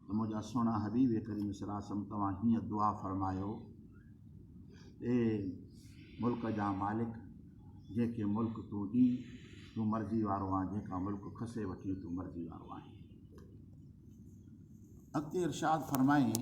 اي منهنجا سهڻا حبيب ڪريم صلّي وسلّم توهان هيئن دعا فرمايو، اي ملڪ جا مالڪ جنهن کي ملڪ تون ڏين تون مرضي وارو آهين جنهن کان ملڪ کسي وٺين تون مرضي وارو آهين. اڳتي ارشاد فرمائين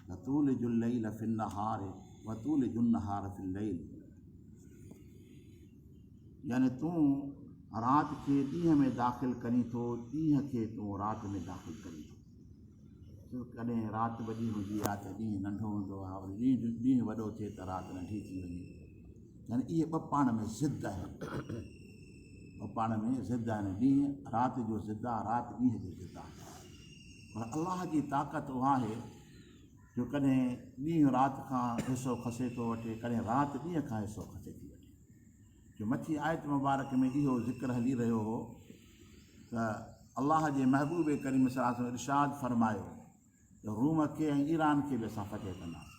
ته تولج الليل في النهار وتولج النهار في الليل. يعني تون رات کي ڏينهن ۾ داخل ڪرين ٿو، ڏينهن کي تون رات ۾ داخل ڪرين ٿو. ڇو ڪڏهن رات وڏي هوندي آهي ته ڏينهن ننڍو هوندو آهي وري ڏينهن ڏينهن وڏو ٿئي ته رات ننڍي ٿي وڃي. يعني اهي ٻه پاڻ ۾ ضد آهن. ٻه پاڻ ۾ ضد آهن. ڏينهن رات جو ضد آهي، رات ڏينهن جو ضد آهي. پر الله جي طاقت اها آهي جو ڪڏهن ڏينهن رات کان حصو کسي ٿو وٺي ڪڏهن رات ڏينهن کان حصو کسي ٿي وٺي جو مٿي آيت مبارڪ ۾ اهو ذڪر هلي رهيو هو ته الله جي محبوب ڪريم صلي الله عليه وسلم ارشاد فرمايو ته روم کي ۽ ايران کي به اسان فتح ڪنداسين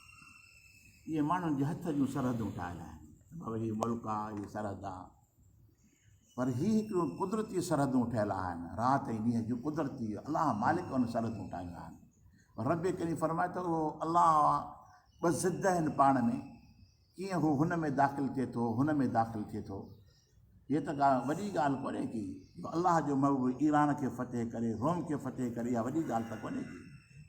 اهي ماڻهن جي هٿ جون سرحدون ٺاهيل آهن ملڪ آهي سرحد آهي پر هي هڪڙيون قدرتي سرحدون ٺهيل آهن، رات ۽ ڏينهن جون قدرتي الله مالڪ ان سرحدون ٺاهيون آهن. پر رب ڪريم فرمائي ٿو اهو الله ٻه ضد آهن پاڻ ۾ ڪيئن هو هن ۾ داخل ٿئي ٿو هن ۾ داخل ٿئي ٿو هي ته ڪا وڏي ڳالهه ڪونهي ڪي جو الله جو محبوب ايران کي فتح ڪري روم کي فتح ڪري اها وڏي ڳالهه ته ڪونهي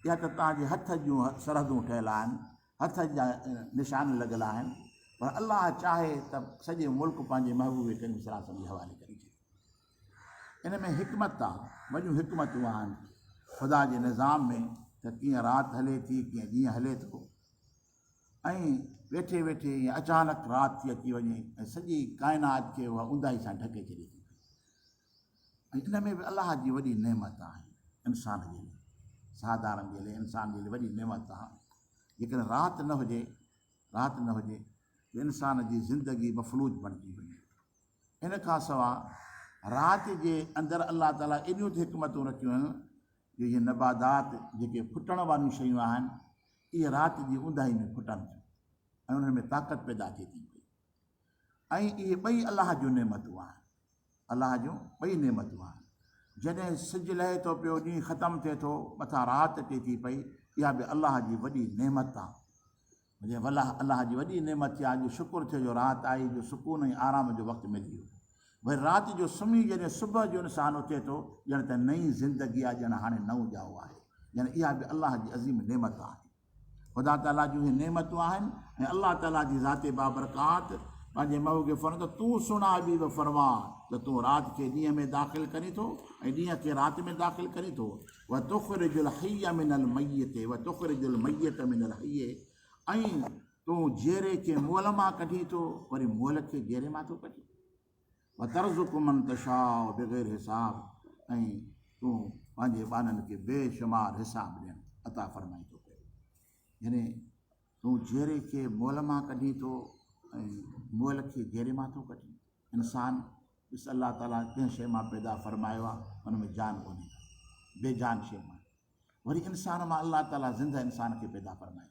ڪي اها ته تنهنجي هٿ جون سرحدون ٺهيل آهن هٿ جا نشان لڳل آهن پر الله چاهي ته سڄي ملڪ پنهنجي محبوب ڪريم صلي الله عليه وسلم جي حوالي ڪري ڇڏي ان ۾ حڪمت آ وڏيون حڪمتون آهن خدا جي نظام ۾ ته ڪيئن رات هلي ٿي ڪيئن ڏينهن هلي ٿو ۽ ويٺي ويٺي ائين اچانڪ رات ٿي اچي وڃي ۽ سڄي ڪائنات کي اها اونداهي سان ڍڪي ڇڏي ٿي ۽ ان ۾ به الله جي وڏي نعمت آهي انسان جي لئه ساڌارڻ جي لئه انسان جي لئه وڏي نعمت آهي جيڪڏهن رات نه هجي رات نه هجي ته انسان جي زندگي مفلوج بڻجي وڃي ان کان سوا رات جي اندر الله تعالي ايڏيون ته حڪمتون رکيون آهن جو هي نبادات جيڪي ڦٽڻ واريون شيون آهن اهي رات جي اونداهي ۾ ڦٽن ٿيون ۽ انهن ۾ طاقت پيدا ٿئي ٿي پئي ۽ اهي ٻئي الله جون نعمتون آهن الله جون ٻئي نعمتون آهن. جڏهن سج لهي ٿو پيو ڏينهن ختم ٿئي ٿو مٿان رات اچي ٿي پئي اها به الله جي وڏي نعمت آ مجھي والله الله جي وڏي نعمت ٿي آج شڪر ٿيو جو رات آئي جو سڪون ۽ آرام جو وقت ملي ويو وري رات جو سمهي جڏهن صبح جو انسان اٿي ٿو ڄڻ ته نئين زندگي آ ڄڻ هاڻي نئون ڄائو آهي ڄڻ اها به الله جي عظيم نعمت آهي. خدا تعاليٰ جون اهي نعمتون آهن ۽ الله تعاليٰ جي ذات بابرڪات پنهنجي مئو کي فرمائي ٿو تون سڻ اي بيبي فرما ته تون رات کي ڏينهن ۾ داخل ڪرين ٿو ۽ ڏينهن کي رات ۾ داخل ڪرين ٿو و تخرج الحي من الميت و تخرج الميت من الحي ۽ تون جيري کي مول مان ڪڍين ٿو وري مول کي جيري مان ٿو ڪڍين وترزق من تشاء بغير حساب ۽ تون پنهنجي ٻانهن کي بي شمار حساب ڏين عطا فرمائين ٿو پيو يعني تون جيري کي مئل مان ڪڍين ٿو ۽ مئل کي جيري مان ٿو ڪڍين انسان بس الله تعالي ڪنهن شيء مان پيدا فرمايو آهي ان ۾ جان ڪونهي بي جان شيء مان وري انسان مان الله تعالي زنده انسان کي پيدا فرمائي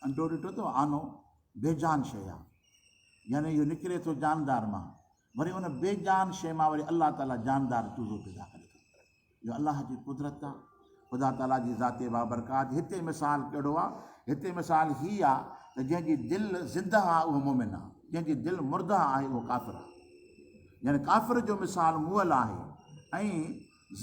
انڊو ڏٺو اٿو آنو بي جان شيء آ يعني اهو نڪري ٿو جاندار مان وري ان بي جان شيء مان وري الله تعالي جاندار چوزو پيدا ڪري ٿو اهو الله جي قدرت آ خدا تعالي جي ذات بابرڪات هتي مثال ڪهڙو آ هتي مثال هي آ ته جنهن جي دل زندهه آ اهو مومن آ جنهن جي دل مردهه آهي اهو ڪافر آ يعني ڪافر جو مثال مول آهي ۽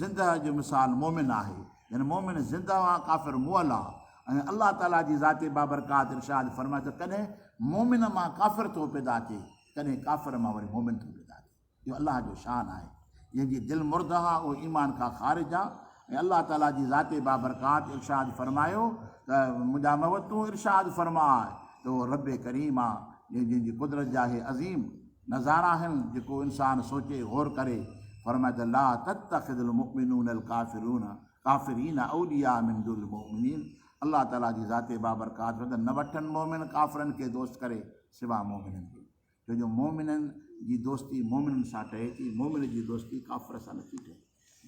زنده جو مثال مؤمن آهي، يعني مؤمن زنده آ ڪافر مئل آ ۽ الله تعالي جي ذات بابرڪات ارشاد فرمائي ته ڪڏهن مؤمن مان ڪافر ٿو پيدا ٿئي ڪڏهن ڪافر مان وري مؤمن ٿو پيدا ٿئي اهو الله جو شان آهي جنهن جي دل مرده آ اهو ايمان کان خارج آ ۽ الله تعالي جي ذات بابرڪات ارشاد فرمايو ته منهنجا محبوب تون ارشاد فرماء ته اهو رب ڪريم آ جنهن جي قدرت جاهي عظيم نظارا آهن جيڪو انسان سوچي غور ڪري، فرمايو ته لا تتخذ المؤمنون الڪافرون ڪافرين اولياء من دون المؤمنين الله تعاليٰ جي ذات بابرڪات فرمائي ٿو نه وٺن مؤمن ڪافرن کي دوست ڪري سوا مؤمنن جي ڇو جو مؤمنن جي دوستي مؤمنن سان ٺهي ٿي مؤمن جي دوستي ڪافر سان نٿي ٺهي.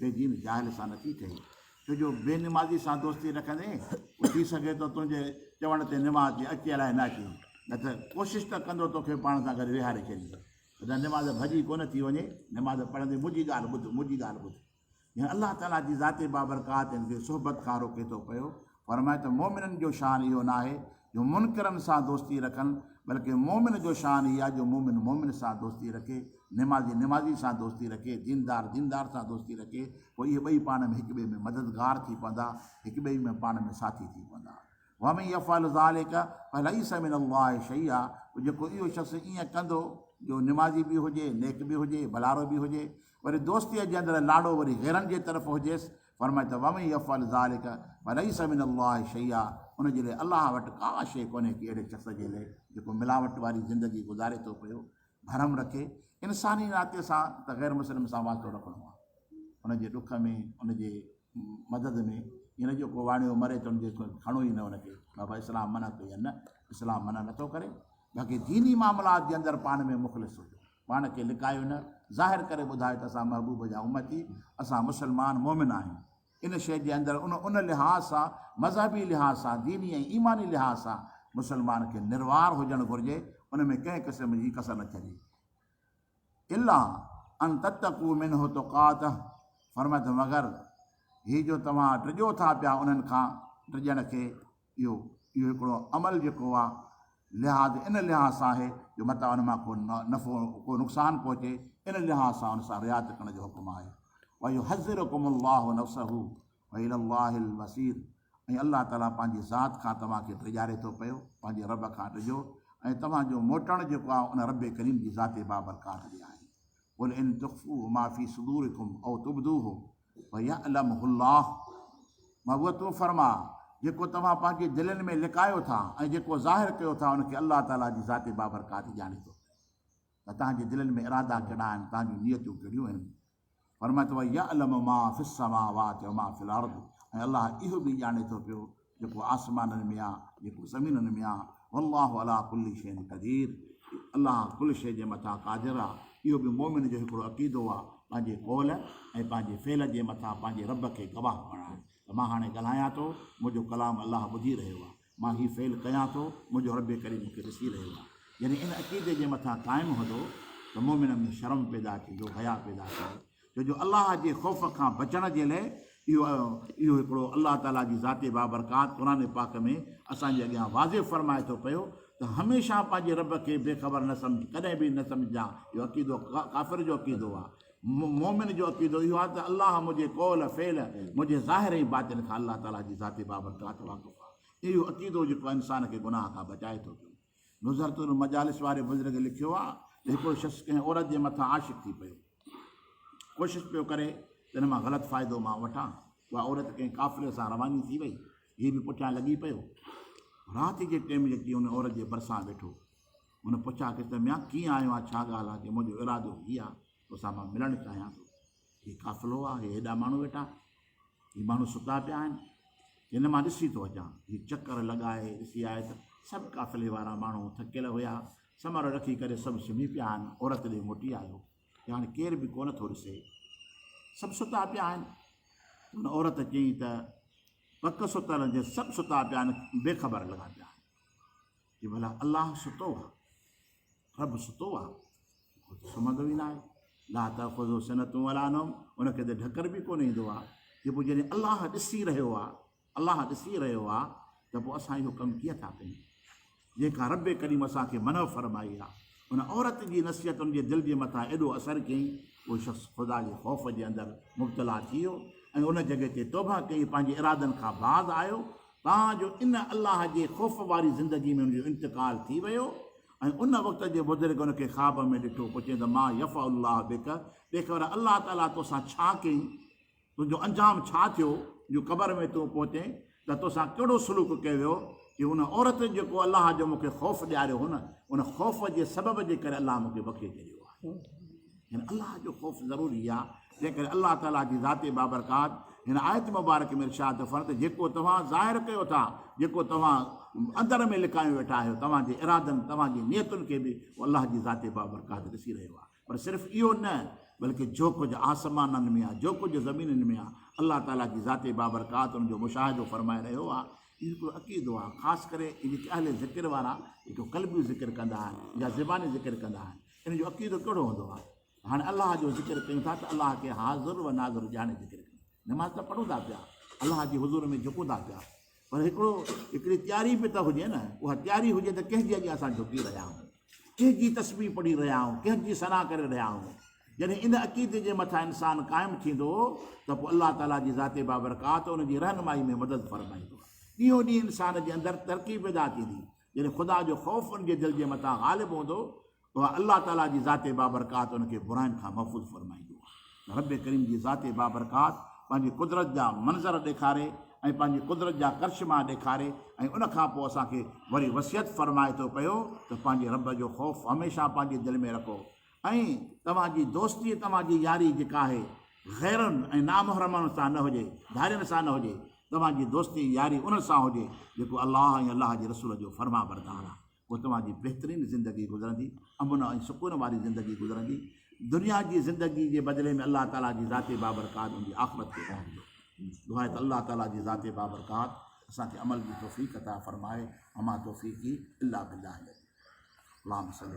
بيجيم جاهل سان نه ٿي ٺهي، ڇو جو بي نمازي سان دوستي رکندين هو ٿي سگهي ٿو تنهنجي چوڻ تي نماز تي اچي الاهي نه اچي نه ته ڪوشش ته ڪندو توکي پاڻ سان گڏ ويهاري ڇڏي ته نماز ڀڄي ڪونه ٿي وڃي نماز پڙهندي منهنجي ڳالهه ٻڌ منهنجي ڳالهه ٻڌ جنهن الله تعاليٰ جي ذات بابرڪات جي صحبت کان روڪي ٿو پيو فرمايو ته مؤمنن جو شان اهو ناهي جو منڪرن سان دوستي رکن بلڪه مؤمن جو شان هي آهي جو مؤمن مؤمن سان دوستي رکي، نمازي نمازي سان دوستي رکي، ديندار ديندار سان دوستي رکي، پوء اهي ٻئي پاڻ ۾ هڪٻئي ۾ مددگار ٿي پوندا، هڪٻئي ۾ پاڻ ۾ ساٿي ٿي پوندا. ومن يفعل ذلک فليس من الله شيئا پوء جيڪو اهو شخص ائين ڪندو جو نمازي به هجي، نيڪ به هجي، ڀلارو به هجي، وري دوستيء جي اندر لاڙو وري غيرن جي طرف هجيس، فرمائي ته ومن يفعل ذلک فليس من الله شيئا ان جي لاء الله وٽ ڪا شيء ڪونهي ڪي اهڙي شخص جي لاء جيڪو ملاوٽ واري زندگي گذاري ٿو پيو ڀرم رکي انساني ناتي سان ته غير مسلم سان واسطو رکڻو آهي ان جي ڏک ۾ ان جي مدد ۾ ان جو کو واڻيو مري ته ان جي کڻو ئي نه ان کي بابا اسلام منع ڪئي يا نه اسلام منع نٿو ڪري باقي ديني معاملات جي اندر پاڻ ۾ مخلص هجو پاڻ کي لڪايو نه، ظاهر ڪري ٻڌايو ته اسان محبوب جا امتي، اسان مسلمان، مؤمن، آهيون. ان شيء جي اندر ان ان لحاظ سان، مذهبي لحاظ سان، ديني ۽ ايماني لحاظ سان مسلمان کي نروار هجڻ گهرجي، ان ۾ ڪنهن قسم جي ڪسر نه ڇڏي. الا ان تتقوا منه تقاته، فرمائي ٿو مگر هي جو توهان ڊڄو ٿا پيا انهن کان، ڊڄڻ کي، اهو اهو هڪڙو عمل جيڪو آ لحاظ ان لحاظ سان آهي جو متان ان مان ڪو نفعو ڪو نقصان پهچي ان لحاظ سان ان سان رعايت ڪرڻ جو حڪم آهي ويحذرڪم الله نفسه والي الله المصير ۽ الله تعالي پنهنجي ذات کان توهان کي ڊيڄاري ٿو پيو پنهنجي رب کان ڊڄو ۽ توهان جو موٽڻ جيڪو آ ان رب ڪريم جي ذات بابرڪات ڏي آهي قل ان تخفوا ما في صدوركم او تبدوه فيعلمه الله، مهبوبه تون فرماء، جيڪو توهان پنهنجي دلين ۾ لڪايو ٿا ۽ جيڪو ظاهر ڪيو ٿا ان کي الله تعاليٰ جي ذات بابرڪات ڄاڻي ٿو ته توهان جي دلين ۾ ارادا ڪهڙا آهن توهان جون نيتون ڪهڙيون آهن فرمائي ٿو ويعلم ما في السماوات وما في الارض ۽ الله اهو به ڄاڻي ٿو پيو جيڪو آسمانن ۾ آ جيڪو زمينن ۾ آ والله علي ڪل شيء قدير الله ڪل شيء جي مٿان قادر آ اهو به مومن جو هڪڙو عقيدو آ پنهنجي قول ۽ پنهنجي فعل جي مٿان پنهنجي رب کي گواهه بڻائڻ ته مان هاڻي ڳالهايان ٿو منهنجو ڪلام الله ٻڌي رهيو آ مان هي فعل ڪيان ٿو منهنجو رب ڪريم مون کي ڏسي رهيو آ جڏهن ان عقيدي جي مٿان قائم هوندو ته مومن ۾ شرم پيدا ٿيندو حياء پيدا ٿيندو ڇو جو الله جي خوف کان بچڻ جي لئه اهو اهو هڪڙو الله تعالي جي ذات بابرڪات قرآن پاڪ ۾ اسان جي اڳيان واضح فرمائي ٿو پيو ته هميشه پنهنجي رب کي بي خبر نه سمجهه ڪڏهن به نه سمجهجان اهو عقيدو ڪافر جو عقيدو آهي مومن جو عقيدو اهو آهي ته الله منهنجي قول فعل منهنجي ظاهر ۽ باطن کان الله تعالي جي ذات بابرڪات واقف آهي اهو عقيدو جيڪو انسان کي گناهه کان بچائي ٿو پيو نظرت المجالس واري بزرگ لکيو آ ته هڪڙو شخص ڪنهن عورت جي مٿان عاشق ٿي پيو ڪوشش پيو ڪري ته ان مان غلط فائدو مان وٺان اها عورت ڪنهن قافلي سان رواني ٿي وئي هي به پٺيان لڳي پيو رات جي ٽيم لٽي ان عورت جي برسان ويٺو هن پڇا ڪيس ته ميان ڪيئن آيو آ ڇا ڳالهه آ ڪي منهنجو ارادو هي آ توسان مان ملڻ چاهيان ٿو هي قافلو آ، هي هيڏا ماڻهو ويٺا، هي ماڻهو ستا پيا آهن، هن مان ڏسي ٿو اچان. هي چڪر لڳائي ڏسي آيو ته سڀ قافلي وارا ماڻهو ٿڪيل هيا، سمهر رکي ڪري سڀ سمهي پيا آهن. عورت ڏي موٽي آيو ته هاڻي ڪير به ڪونه ٿو ڏسي، سڀ ستا پيا آهن. ان عورت چيائين ته پڪ ستل جي سڀ ستا پيا آهن، بي خبر لڳا پيا آهن. جي ڀلا الله ستو آ، رب ستو آ، هو ته سمهندو ئي ناهي، لا تاخذه سنة ولا نوم، ان کي ته ڍڪر به ڪونه ايندو آ، جي پوء جڏهن الله ڏسي رهيو آ، الله ڏسي رهيو آ ته پوء اسان اهو ڪم ڪيئن ٿا ڪيون؟ جنهن کان رب ڪريم اسان کي منع فرمائي آ، ان عورت جي نصيحت ان جي دل جي مٿان ايڏو اثر ڪيئي، اهو شخص خدا جي خوف جي اندر مبتلا ٿي ويو ۽ ان جڳهه تي توبهه ڪيئي، پنهنجي ارادن کان باز آيو، تان جو ان الله جي خوف واري زندگي ۾ هن جو انتقال ٿي ويو ۽ ان وقت جي بزرگ هن کي خواب ۾ ڏٺو پوء چيائين ته ما يفعل الله بك ڏيک ڀلا الله تعاليٰ توسان ڇا ڪيائين؟ تنهنجو انجام ڇا ٿيو جو قبر ۾ تون پهتين ته توسان ڪهڙو سلوڪ ڪيو ويو؟ چيو ان عورت جيڪو الله جو مون کي خوف ڏياريو هو نه ان خوف جي سبب جي ڪري الله مون کي بخشي ڇڏيو آهي يعني الله جو خوف ضروري آهي. تنهن ڪري الله تعاليٰ جي ذات بابرڪات هن آيت مبارڪ ۾ ارشاد ٿو فرمائي ته جيڪو توهان ظاهر ڪيو ٿا، جيڪو توهان اندر ۾ لڪايو ويٺا آهيو، توهان جي ارادن، توهان جي نيتن کي به هو الله جي ذات بابرڪات ڏسي رهيو آهي. پر صرف اهو نه بلڪه جو ڪجهه آسمانن ۾ آهي، جو ڪجهه زمينن ۾ آهي، الله تعاليٰ جي ذات بابرڪات ان جو مشاهدو فرمائي رهيو آهي. اهو هڪڙو عقيدو آهي، خاص ڪري هي جيڪي اهل ذڪر وارا جيڪو قلبي ذڪر ڪندا آهن يا زباني ذڪر ڪندا آهن، انهن جو عقيدو ڪهڙو هوندو آهي؟ هاڻي الله جو ذڪر ڪيون ٿا ته الله کي حاضر و ناظر ڄاڻي ذڪر ڪيون نماز ته پڙهون ٿا پيا الله جي حضور ۾ جهڪون ٿا پيا پر هڪڙو هڪڙي تياري به ته هجي نه اها تياري هجي ته ڪنهن جي اڳيان اسان جهڪي رهيا آهيون ڪنهن جي تصوير پڙهي رهيا آهيون ڪنهن جي سنا ڪري رهيا آهيون جڏهن ان عقيدي جي مٿان انسان قائم ٿيندو ته پوء الله تعالیٰ جي ذات بابرڪات ان جي رهنمائي ۾ مدد فرمائيندو ڏينهون ڏينهن انسان جي اندر ترقي پيدا ٿيندي جڏهن خدا جو خوف ان جي دل جي مٿان غالب هوندو اها الله تعاليٰ جي ذات بابرڪات ان کي براين کان محفوظ فرمائيندو آهي ته رب ڪريم جي ذات بابرڪات پنهنجي قدرت جا منظر ڏيکاري ۽ پنهنجي قدرت جا ڪرشما ڏيکاري ۽ ان کان پوء اسان کي وري وصيت فرمائي ٿو پيو ته پنهنجي رب جو خوف هميشه پنهنجي دل ۾ رکو ۽ توهان جي دوستي توهان جي ياري جيڪا آهي غيرن ۽ نامحرمن سان نه هجي ڌارين سان نه هجي توهان جي دوستي ياري انهن سان هجي جيڪو الله ۽ الله جي رسول جو فرمانبردار آهي پوء توهان جي بهترين زندگي گذرندي، امن ۽ سڪون واري زندگي گذرندي، دنيا جي زندگي جي بدلي ۾ الله تعاليٰ جي ذات بابرڪات ان جي آخرت کي بڻائيندو. دعا ته الله تعاليٰ جي ذات بابرڪات اسان کي عمل جي توفيق عطا فرمائي وما توفيقي الا بالله العلي العظيم اللهم صلي.